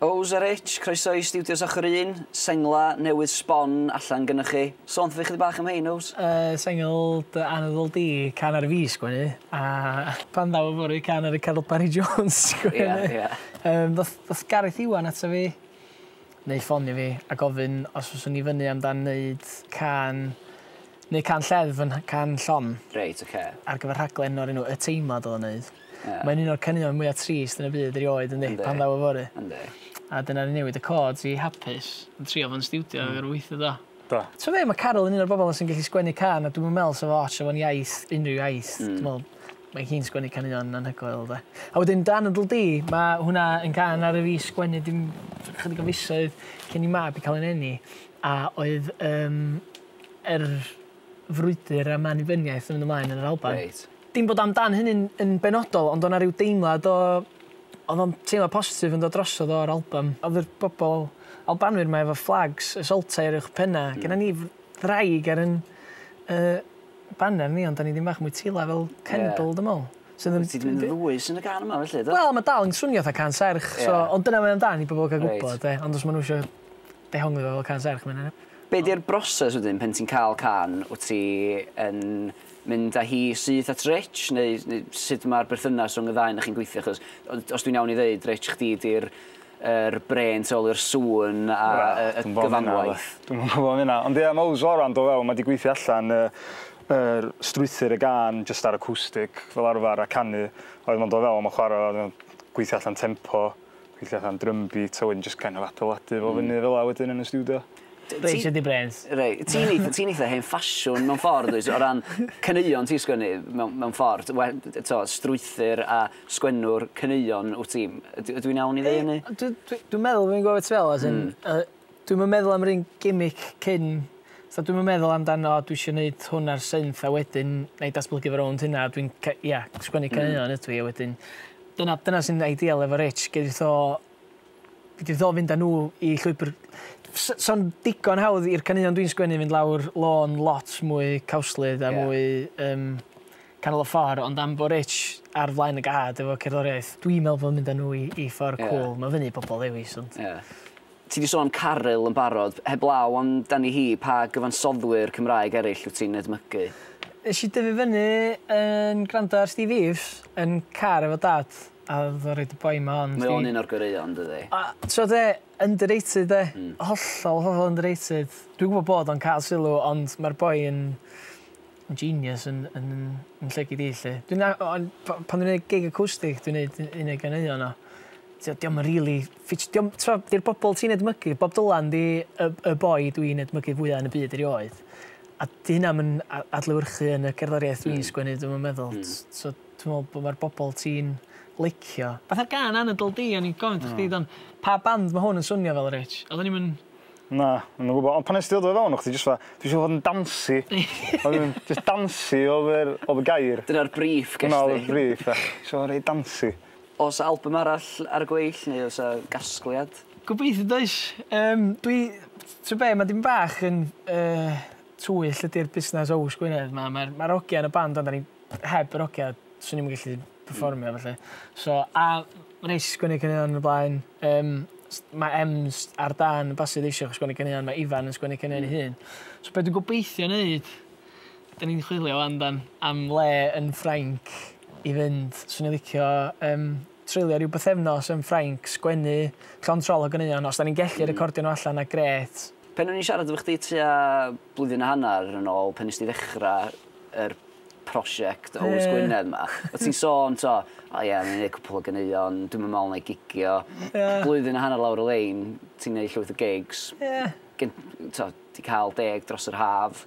Owws yr Itch, croeso i Stiwdios Ochr Un, sengla newydd sbon allan gynnoch chi. Sôn 'tho fi chydig bach am hein, Owws? Y sengl dy anadl di, can ar fi sgwennu, a Pan ddaw yfory, can ar y Carill Barri Jones sgwennu. Ia, ia. Yym ddoth ddoth Gareth Iwan ato fi, neu ffonio fi, a gofyn os fyswn i fyny amdan neud cân, neu cân lled fy can llon. Reit, ocê. Ar gyfer rhaglen o'r enw Y Teimlad o'dd o'n neud. Ie. Mae'n un o'r caneuon mwya trist yn y byd erioed yndi? Yndi. Pan ddaw yfory. Yndi. A dyna ni newid y cords i hapus. Yn trio fo'n stiwdio mm. ar weithio do. Do. T'o' be' ma' Caryl yn un o'r bobol sy'n gellu sgwennu can a dwi'm yn me'wl sa fo ots efo'n iaith, unrhyw iaith. Mm. Dwi me'wl mae hi'n sgwennu caneuon anhygoel 'de. A wedyn Dan Ydl Di, mae hwnna yn can ar y fi sgwennu dim chydig o fisoedd cyn i mab i cael ei neni. A oedd um, yr frwydr am annibyniaeth yn mynd ymlaen yn yr Alban. Reit. Dim bod am dan hynny'n yn benodol ond o' 'na ryw deimlad o o'dd o'n teimlad positif yn dod drosodd o'r albym. O'dd yr bobol Albanwyr 'ma efo fflags y Saltau ar uwch penna. Gennon ni f- ddraig ar 'yn yy baner ni ond 'dan ni ddim bach mwy tila fel Kendal dwi me'wl. Sydd yn... Wyt ti 'di mynd yn ddwys yn y gan yma felly do? Wel ma' dal yn swnio 'tha cân serch so... Ie. ...ond dyna mae o am dan i bobol ga'l gwbod... Reit. ...de ond os ma' nw isio dehongli fo fel cân serch ma' 'na... Be' 'di'r broses wedyn pen ti'n ca'l cân wt ti yn mynd â hi syth at Rich neu neu sut ma'r berthynas rhwng y ddau 'na chi'n gweithio achos ond os dwi'n iawn i ddeud Rich chdi 'di'r yr brên tu ôl i'r sŵn a yy y gyfanwaith. Dwi'm yn gwbo am hynna ond ia ma' Owls Oran do fewn ma' 'di gweithio allan yy yr strwythur y gân jyst ar acwstic fel arfar a canu a wedyn ma'n do fewn ma'n chwara a wedyn ma'n gweithio allan tempo Weithia fatha'n drum beat a wedyn jyst kind of adeiladu fo fyny fela wedyn yn y stiwdio. Raise dy brêns. Rei- ti'n eith- ti'n eitha hen ffasiwn mewn ffordd wyt o ran caneuon ti'n sgwennu mewn mewn ffordd we- t'o' strwythur a sgwennwr caneuon wt ti. Yd- ydw i'n iawn i ddeu hynny? Yy dw dwi dwi'n meddwl fi'n gwbo be' ti fe'wl as in yy Dwi'm yn meddwl am yr un gimmick cyn, fatha dwi'm yn meddwl amdano o dwi isio neud hwn ar synth a wedyn nâi datblygu fo rownd hynna a dwi'n ca- ia sgwennu caneuon ydw i a wedyn dyna dyna sy'n ideal efo Rich gei di tho gei di tho fynd â nhw i llwybr s- so'n digon hawdd i'r caneuon dwi'n sgwennu fynd lawr lôn lot mwy cawslyd a mwy yym canol y ffor ond am bo' Rich ar flaen y gad efo cerddoriaeth dwi'n meddwl bod o'n mynd â nhw i i ffor cŵl ma'n fynnu i bobl ddewis ond... Ia. Ti 'di sôn am Caryl yn barod, heblaw am dani hi, pa gyfansoddwyr Cymraeg eraill wyt ti'n edmygu? Nes i dyfu fyny yn gwrando ar Steve Eaves yn car efo dad a o'dd o'n roid y boi 'ma on. Mae o'n un o'r goreuon dydi? A t'wod be? Underrated 'de? Hmm. Hollol hollol underrated. Dwi'n gwbo bod o'n ca'l sylw ond ma'r boi yn yn genius yn yn yn lle gei di 'lly. Dwi'n a- o- on' p- pan dwi'n neud gig acoustic dwi'n neud u- un o'i ganeuon o. T'od 'di o'm yn rili Fitch, Dio'm, t'mo', di'r bobl ti'n edmygu, Bob Dylan 'di y y boi dwi'n edmygu fwya yn y byd erioed. A 'di hyna'm yn a- adlewyrchu yn y cerddoriaeth dwi'n Hmm. sgwennu dwi'm yn meddwl. Hmm. S- So dwi me'wl bo' ma'r bobl ti'n licio. Fatha'r gân anadl di o'n i'n gofyn 'tho chdi do'n? Pa band ma' hwn yn swnio fel Rich? Oddwn i'm yn... Na, dwi'm yn gwbo ond pan nes ti ddod o fewn o' chdi jyst fatha dwi isio fod yn dancy. O'n i'n jyst dancy odd yr odd y gair. Dyna'r brief ges di. Dyna odd y brief ia. Isio fo' reit dancy. O's albym arall ar y gweill neu o's 'a gasgliad? Gobeithio does. Yym dwi t'o' be' ma' dipyn bach yn yy twyll ydi'r busnas Ows Gwynedd 'ma ma'r ma'r ogia yn y band ond 'dan ni heb yr ogia swn i'm yn gellu perfformio felly so a ma' neis sgwennu caneuon yn y blaen yym s- ma' Em's ar dân basu ddeisiwch sgwennu caneuon ma' Ifan yn sgwennu caneuon 'i hun so be' dwi'n gobeithio neud Dyn ni'n chwilio wan dan am le yn Ffrainc i fynd. Swn i'n licio yym treulio ryw bythefnos yn Ffrainc, sgwennu llond trol o ganeuon. Os dan ni'n gellu hmm. recordio nhw allan 'na grêt. Pen o'n i'n siarad efo chdi tua blwyddyn a hanner yn ôl pen nes ti ddechrau yr prosiect o Owys Gwynedd ma. O ti'n sôn, to, o ie, ni'n gwneud cwpl o ganeuon, dwi'n mynd mewn ei gigio. Yeah. Blwyddyn a hanner lawr y lein, ti'n gwneud llwyth o gigs. Yeah. Gen, to, di cael deg dros yr haf.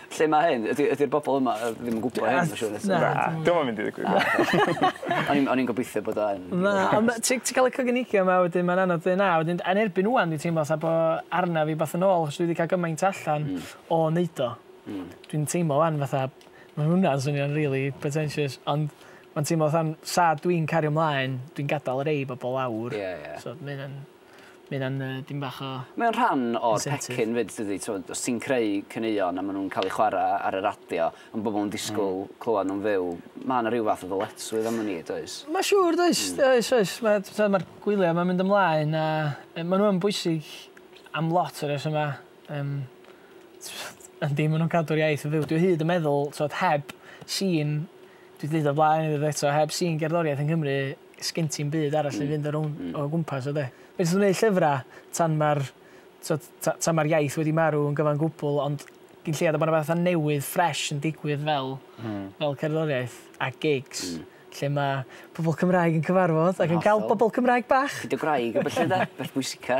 Lle ma' hyn? Ydi ydi'r bobol yma yy ddim yn gwbo hyn ma' siŵr eto. Na. Dio'm yn mynd i ddigwydd na. O'n i'n o'n i'n gobeithio bod o yn. Na on' ma' ti ti ca'l y coginigio 'ma wedyn ma'n anodd deu' na wedyn yn erbyn ŵan dwi'n teimlo fatha bo' arnaf fi wbath yn ôl achos dwi 'di ca'l gymaint allan... Hmm. ...o neud o. Hmm. Dwi'n teimlo 'wan fatha ma' hwnna'n swnio'n rili pretentious ond ma'n teimlo fatha'n 'sa dwi'n cario mlaen dwi'n gadal rei bobol lawr. Ie ie. So ma' ynna'n Mae hynna'n yy dim bach o... Mae o'n rhan o'r pecyn 'fyd dydi t'mod os ti'n creu caneuon a ma' nw'n ca'l eu chwara ar y radio a ma' bobol yn disgwl clywad nw'n fyw ma' 'na ryw fath o ddyletswydd arnon ni does? Ma' siŵr does? Hmm. Oes oes ma' t'mod ma'r gwylia 'ma'n mynd ymlaen a yy ma' n'w yn bwysig am lot o resyma yym yndi ma' nw'n cadw'r iaith yn fyw dwi o hyd yn meddwl t'mod heb sîn dwi 'di deud o blaen eto heb sîn gerddoriaeth yng Nghymru sgin ti'm byd arall i fynd o rown- o gwmpas o 'de? Fedrith nhw neud llyfra tan ma'r t'od ta- tan ma'r iaith wedi marw yn gyfan gwbwl ond gin lleiad a bo' 'na betha newydd ffresh yn digwydd fel fel cerddoriaeth a gigs lle ma' pobol Cymraeg yn cyfarfod ac yn ca'l bobol Cymraeg bach. Dy gwraig a ballu 'de? Beth bwysica.